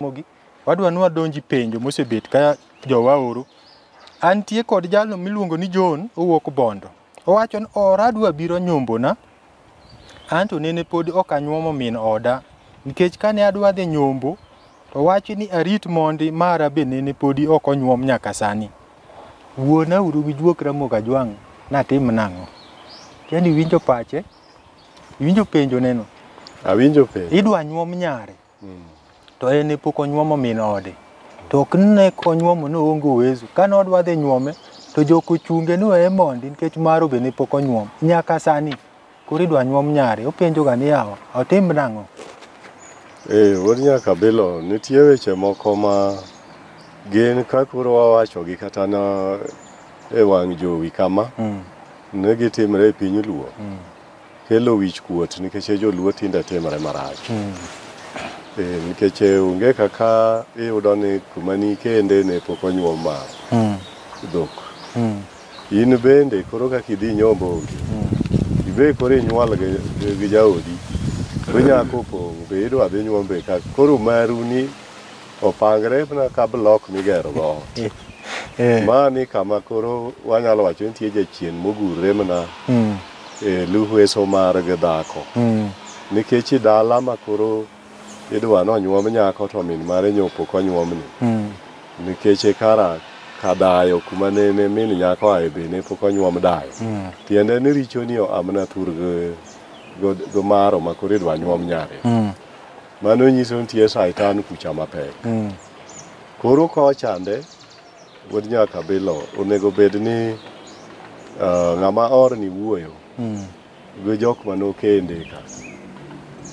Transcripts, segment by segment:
mogi wadwa ni wadonji penjo mosebet ka jowa oro antie kod jalo miluongo ni John owuok Bondo Owacho ni oradu abiro nyombona, anto nene pod ok anyuomo min oda, nikech kane adwa dhi nyombo, to wachi ni arit mondi mara be nene podi ok onyuom nyaka sani. Wuona uru gi juok Ramogi Ajwang' natim nang'o? Tiani iwinjo pache? Iwinjo penjo neno? Awinjo penjo. Idwa nyuom nyare. to en ne pok onyuomo min ode to ok ne konyuomo ne oonge uwezo kane odwa dhi nyuome to jok ochunge ni weye mondi nikech maro be ne pok onyuom nyaka sani koro idwa nyuom nyare openjoga ni yawa otim nang'o Ee, wuod Nyakabilo, nitie weche moko ma gin ka koro wawachogi kata na e wang' jowi kama, Mm. ne gitimre e piny Luo. kelo wich kuot nikech e joluo tinde timre marach mm. e, nikech e, onge kaka iyudo ni kuma ni kende ne pok onyuom ma mm. dhok mm. in bende koro kaka idhi nyombo onge mm. ibe koro inyuol gi, gi jaodi to nyako pong' be idwa dhi nyuombe ka koro maru ni opangre na ka blok migero go eh. Eh. ma ni kama koro wanyalo wacho nitie jachien mogurre mana mm. e luhweso mar gi dhako mm. nikech i dala ma koro idwa ni onyuom nyako to min mare nyopo konyuomni mm. nikech e kara kadayo kuma nene min nyako ae be ne pok onyuom dayo mm. tiende ni richo ni amna thur go maro ma koro idwa nyuom nyare mm. mano nyiso nitie saitan kucha mapek mm. koro kochande Wuod nyaka bilo onego bed ni uh, ng'ama orni wuoyo mm. gi jok manokende ka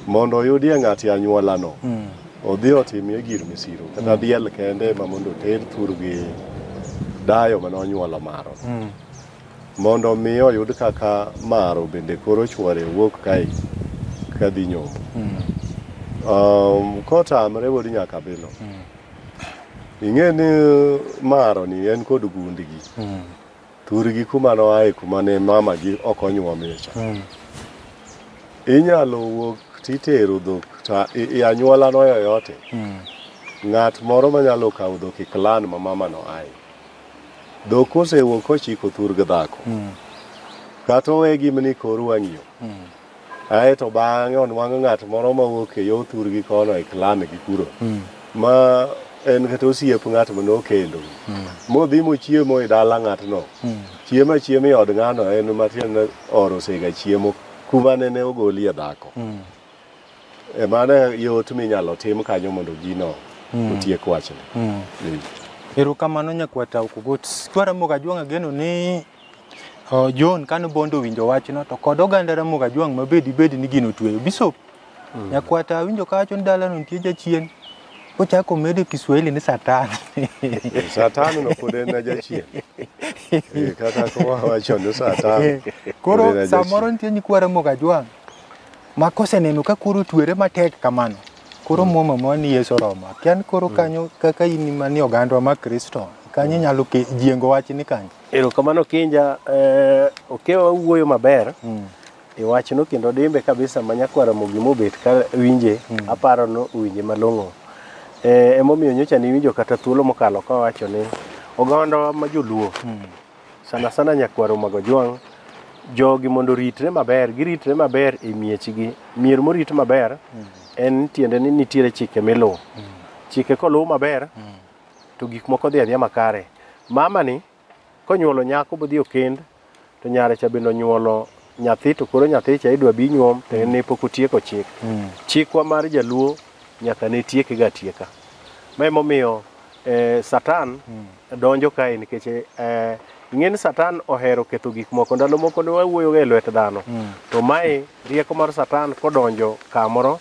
mondo oyudie ng'ati anyuolano mm. odhi otimie gir misiro kata mm. diel kende ma mondo oter thur gi dayo mane onyuolo maro mm. mondo mi oyud kaka maro bende koro chwore wuok kae kadhi nyombo mm. um, kotamre wuod nyaka bilo mm. ing'e ni uh, maro ni en kod gundigi mm. thurgi kuma noaye kuma ne mamagi ok onyuomie cha mm. inyalo wuok titero dhok ta i anyuola no yoyote mm. ng'at moro manyalo kawo dhok e klan ma mama no aye dhok kosewuok kochiko thurg dhako mm. kata owe gimni kor wang'iyo mm. Ae to bang'e onwang'o ng'at moro ma wuok e yo thurgi kono e klame gi kuro. Mm. Ma en kata osiep ng'at ma nokendo. Mm. Modhi mochiemo e dala ng'atno. Mm. Chiemo achiema e od ng'ano en matiende oro sega chiemo kuma nene ogolie dhako. Mm. E mano yot minyalo tim kanyo mondo gino mm. otiek wachne. Mm. Erokamano nyakwata Okugot. Twaramoga Jwang'a geno ni John kane Bondo owinjo wachno to kod oganda Ramogi Ajwang' ma bedi bedi ni gino tweyo. Bishop mm. nyakwata awinjo ka wacho ni dalano nitie jachien ochako medo Kiswahili ni satan. satan no pod en jachien. Eh, kata kowacho ni satan. Eh, koro samoro nitie nyikwa Ramogi Ajwang' ma koseneno ka koro twere matek kamano koro mm. muma ma ni Yesu Roma kian koro mm. kanyo kaka in mani ogandwa ma Kristo kanyo nyalo jiengo wach ni kanyo Erokamano Kinja, eh, Okewa wawuoyo maber e wachno kendo dimbe kabisa ma Nyako Ramogi mobet ka winje aparo ni owinje malong'o. Eh, emomiyo nyocha niwinjo kata thuolo mokalo ka wacho ni ogandawa ma joluo sana sana Nyakwaro Magojwang' jogi mondo oritre maber, giritre maber e miechgi. Mier morit maber en tiende ni nitiere chike miluwo. Chike koluw maber to gik moko dhi adhiya makare. Mamani konyuolo nyako bodhi okend to nyare cha bende onyuolo nyathi to koro nyathi cha idwa bi nyuom to en ne pok otieko chik. Chikwa mar jaluo nyaka ne tieke ga tieka. Ma emomiyo eh, Satan donjo kae nikech eh, ing'e ni Satan ohero ketho gik moko. Ndalo moko ne wawuoyoga e lwet dhano. To mae rieko mar Satan kodonjo kamoro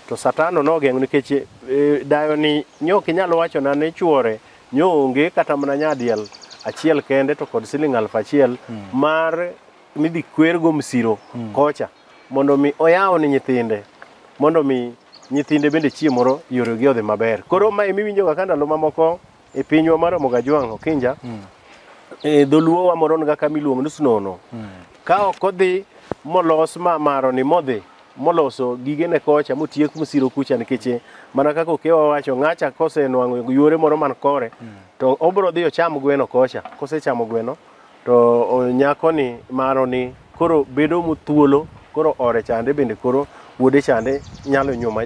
To Satano nogeng'o nikech e, dayoni nyo ok inyal wachona ni chwore nyo onge kata mana nyadiel achiel kende to kod siling aluf achiel mar midhi kwergo msiro kocha mondo mi oyaw ni nyithinde mondo mi nyithinde bende chieng' moro yoregi odhi maber. Koro ma emiwinjoga ka ndalo mamoko e pinywa mar Ramogi Ajwang' Okinja e dholuo wamoron ga kama iluongo ni Snono ka ok odhi molos ma maroni modhi moloso gigene kocha motiek mosiro kucha nikech mana kaka okewa wacho ng'acha kosenwang'o yuore moro man kore to obro dhi ocham gweno kocha kosechamo gweno To nyakoni maro ni koro bedo muthuolo koro ore chande bende koro wuode chande nyalo nyuma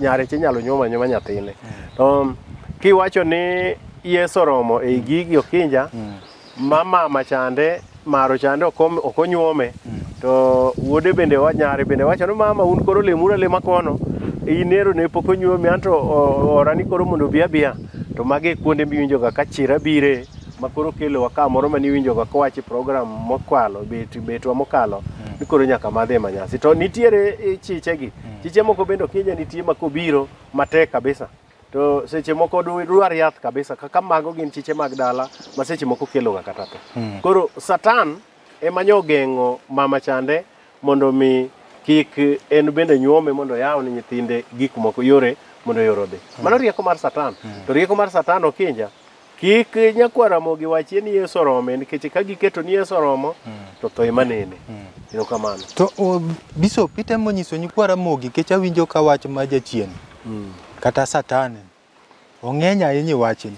nyareche nyalo nyuma nyuma nyathine. To kiwacho ni Yesu oromo ei gigi okinja ma mama chande maro chande ok onyuome to wuode bende nyare bende wacho ni mama un koro lemuru alema kono inero ne pok onyuomi anto orani koro mondo obi abiya to mage kuonde miwinjoga ka chira bire ma koro kelowa ka moro mane iwinjoga kowach e program mokwalo bet betwa mokalo ni koro nyaka madhi e manyasi to nitiere eh, chichegi chiche moko bende ok inya nitie ma kobiro matek kabisa to seche moko du- dwar yath kabisa kaka mago gin chiche mag dala ma seche moko keloga kata tho koro satan ema nyo ogeng'o mama chande mondo mi kik en bende nyuome mondo yaw ni nyithinde gik moko yore mondo yore odhi mano rieko mar satan to rieko mar satan okinja Kik nyakwar Ramogi wachie ni Yesu orome nikech ka giketo ni Yesu oromo to tho ema nene. Erokamano. To o, Bishop itemo nyiso nyikwa Ramogi nikech awinjo ka wach ma jachien kata satan ong'eny ahinya e wachni.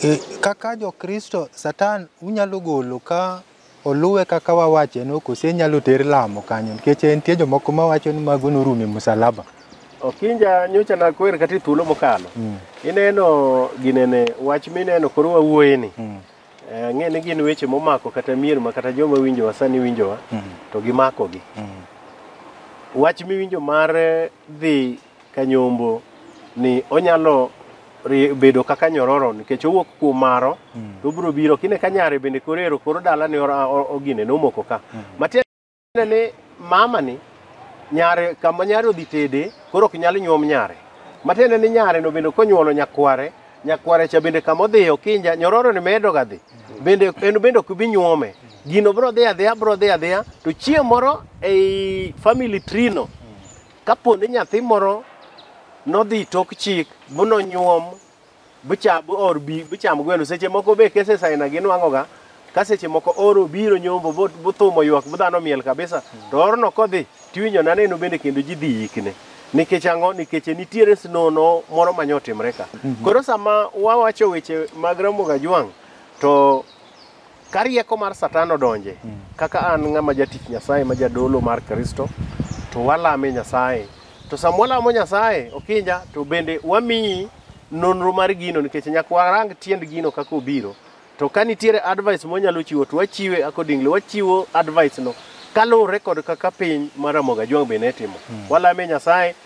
E, kaka jo Kristo satan unyalo golo ka oluwe kaka wawache no kose nyalo ter lamo kanyo nikech nitie jomoko ma wacho ni mago norumo e musalaba Okinja nyocha nakwer kata e thuolo mokalo mm. ineno ginene wach mineno koro wawuoye ni mm. Eh, ang'e ni gin weche momako kata mier ma kata joma winjowa sani winjowa mm. to gimakogi mm. wach miwinjo mar dhi Kanyombo ni onyalo ri- bedo kaka nyororo nikech owuok kuom maro to obiro biro kine ka nyare bende korero koro dala ni ora- o- ogine nomoko ka matiende ni mama ni nyare kama nyare odhi tede koro ok nyal nyuom nyare matiende ni nyare no bende konyuolo nyakware nyakware cha bende kama odhi okinja nyororo ni medo ga dhi bende en bende ok bi nyuome gino bro dhi adhiya bro dhi adhiya to chieng' moro ei family tree no Kapo ni nyathi moro nodhi tok chik bu nonyuom bucha bu or bi bucham gweno seche moko be kese saina gi nwango ga ka seche moko oro biro nyombo bu bu thumo ywak bu dhano miel kabisa to orno kodhi tiwinjo na neno bende kendo ji dhi yikne nikech ang'o nikech nitiere snono moro ma nyotimre ka koro sama wawacho weche mag Ramogi Ajwang' to Ka rieko mar Satan odonje, kaka an ng'ama jatich Nyasaye ma jadolo mar Kristo, to walame Nyasaye. To sama walamo Nyasaye, Okinja, to bende wamiyi nonro mar gino nikech nyaka warang tiend gino kaka obiro. To ka nitiere advice mwanyalo chiwo to wachiwe accordingly, wachiwo advice no kaluwore kod kaka piny mar Ramogi Ajwang' be ne timo. Walame Nyasaye